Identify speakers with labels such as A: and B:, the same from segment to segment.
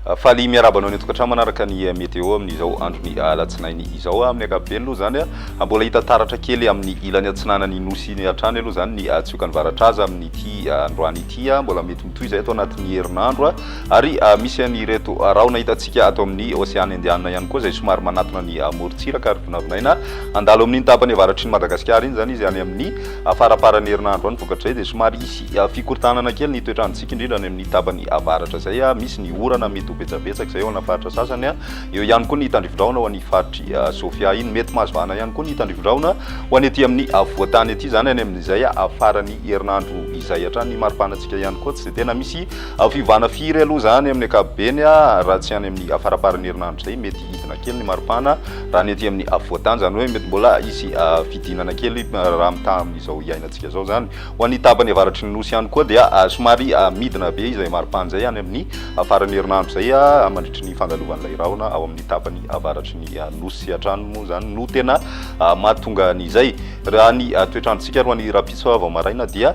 A: Faly miarahaba anao ny an-tokantrano manaraka ny eh, météo amin'izao andron'ny eh, alatsinainy izao. Ah, amin'ny ankapobeny aloha izany ah, ah, mbola hita taratra kely amin'ny ilany atsinanan'ny nosy ny hatrany aloha izany ny tsiokany varatra aza amin'ity androany ity. Mbola mety mitohy izay ato anatin'ny herinandro. Ary misy an'ireto rahona hitantsika ato amin'ny Oseana Indianina ihany koa izay somary manatona ny morontsiraka ary vinavinaina handalo amin'iny tapany avaratry ny Madagasikara iny izany izy any amin'ny faramparan'ny herinandro any. Vokatra izay dia somary hisy fikorontanana kely ny toetr'androntsika indrindra any amin'ny tapany avaratra izay misy ny orana mety ho betsabetsaka izay ao ana faritra sasany. Eo ihany koa ny tandrivindrahona ho an'i faritry Sofia iny. Mety mahazo vahana ihany koa ny tandrivindrahona ho any aty amin'ny afovoantany aty izany any amin'izay faran'ny herinandro izay hatrany. Ny maripanantsika ihany koa tsy dia tena misy Fiovana firy aloha izany amin'ny ankapobeny raha tsy any amin'ny faramparan'ny herinandro izay mety hidina kely ny maripana raha ny ety amin'ny afovoan-tany izany hoe mety mbola hisy fidinana kely raha mitaha amin'izao iainantsika izao izany. Ho an'ny tapany avaratry ny nosy ihany koa dia somary midina be izay maripana izay any amin'ny faran'ny herinandro izay mandritry ny fandalovan'ilay rahona ao amin'ny tapany avaratry ny nosy hatrany moa izany no tena mahatonga an'izay. Raha ny toetr'androntsika alohan'ny rahampitso vao maraina dia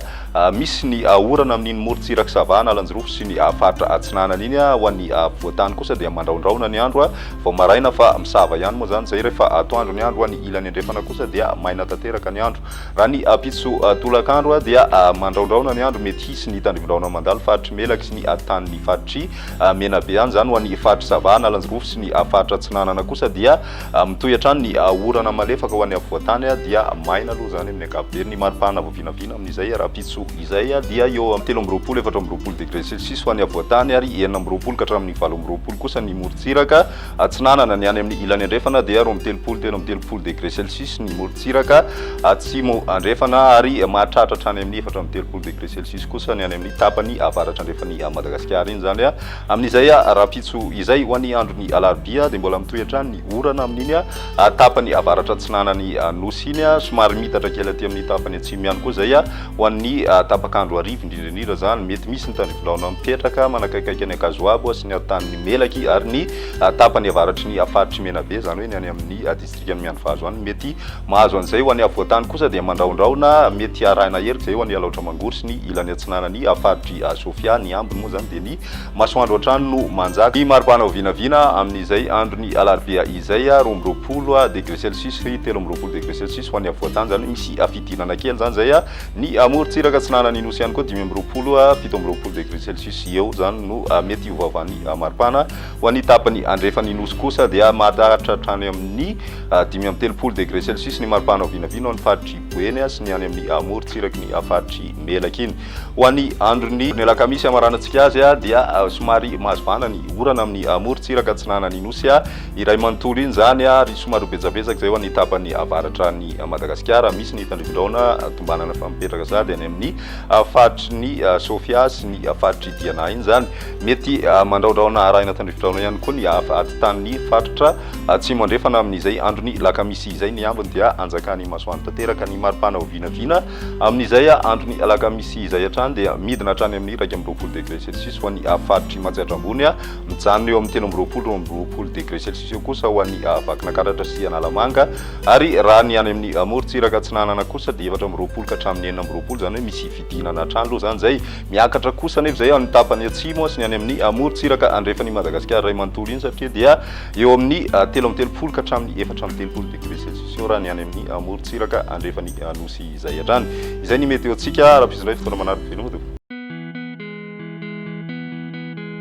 A: Misy ny orana amin'iny morontsirak'i Sava, Analanjirofo sy ny faritra atsinanana iny. Ho an'ny afovoan-tany kosa dia mandraondraona ny andro vao maraina fa misava ihany moa izany izay rehefa atoandro ny andro. Ho an'ny ilany andrefana kosa dia maina tanteraka ny andro. Raha ny ampitso tolakandro dia mandraondraona ny andro, mety hisy ny tandrivon-drahona mandalo faritr'i Melaky sy ny tanin'ny faritr'i Menabe any izany. Ho an'ny faritr'i Sava, Analanjirofo sy ny faritra atsinanana kosa dia. Mitohy hatrany ny orana malefaka ho an'ny afovoan-tany dia maina aloha izany amin'ny ankapobeny. Ny mari-pahana vao vinavina amin'izay rahampitso izay dia eo amin'ny telo amby roapolo, efatra amby roapolo degre celsius ho an'ny afovoan-tany ary enina amby roapolo ka hatramin'ny valo amby roapolo kosa ny morontsiraka atsinanana. Ny any amin'ny ilany andrefana dia roa amby telopolo, telo amby telopolo degre celsius ny morontsiraka atsimo andrefana ary mahatratra hatrany amin'ny efatra amby telopolo degre celsius kosa ny any amin'ny tapany avaratra andrefan'i Madagasikara. Iny izany Amin'izay rahampitso izay, ho an'ny andron'ny alarobia, dia mbola mitohy hatrany ny orana amin'iny tapany avaratra atsinanan'ny Nosy iny. Somary miitatra kely aty amin'ny tapany atsimo ihany koa izay ho an'ny tapak'andro hariva, indrindra indrindra izany mety misy ny tandrifindraona mipetraka manakaikaiky an'i Ankazoabo sy ny atanin'ny Melaky ary ny tapany avaratry ny faritry Menabe, izany hoe ny any amin'ny dikany miandry vazo any mety mahazo an'izay ho any afovoan-tany kosa dia mandrahondrahona mety arahina hery izay ho any alaotra mangoro sy ny ilany atsinanany faritry sofia ny ambiny moa izany dia ny masoandro hatrany no manjaka ny maripana ho vinavina amin'izay andron'ny alarobia izay roa amby roapolo degré celsius sy telo amby roapolo degré celsius ho any afovoan-tany izany misy fidirana kely izany izay ny amorontsiraka atsinanan'ny nosy ihany koa dimy amby roapolo fito amby roapolo degré celsius eo izany no mety ho vavan'ny maripana Ho an'ny tapany andrefan'ny Nosy kosa dia mahatratra hatrany amin'ny dimy amby telopolo degre celsius ny maripana ao vinavina ao amin'ny faritr'i Buenia sy ny any amin'ny morontsiraky ny faritr'i Melaky iny. Ho an'ny andron'ny alakamisy hamaranantsika azy dia somary mahazvana ny orana amin'ny morontsiraka atsinanan'ny Nosy iray manontolo iny izany ary somary ho betsabetsaka izay ho an'ny tapany avaratran'i Madagasikara. Misy ny tandrifindraona tombanana fa mipetraka sady any amin'ny faritry ny Sofia sy ny faritr'i Diana iny izany. Mety mandraondraona arahina tandrifidraona ihany koa ny hafa atitan'ny faritra Atsimo Andrefana amin'izay andron'ny lakamisy izay ny ambiny dia anjakan'ny masoandro tanteraka ny maripana ho vinavina amin'izay andron'ny alakamisy izay hatrany dia midina hatrany amin'ny iraika amby roapolo degré celsius ho an'ny faritr'i Matsiatra Ambony mijanona eo amin'ny telo amby roapolo roa amby roapolo degré celsius eo kosa ho an'ny Vakinankaratra sy Analamanga ary raha ny any amin'ny morontsiraka Atsinanana kosa dia efatra amby roapolo ka hatramin'ny enina amby roapolo izany hoe misy fidinana hatrany aloha izany izay Miakatra kosa anefa izay amin'ny tapany atsimo sy ny any amin'ny morontsiraka andrefan'i Madagasikara iray manontolo iny satria dia eo amin'ny telo amby telopolo ka hatramin'ny efatra amby telopolo degré celsius eo raha ny any amin'ny morontsiraka andrefan'ny nosy izay hatrany. Izay ny meteontsika ara-pizindray fotoana manaraka feno ody.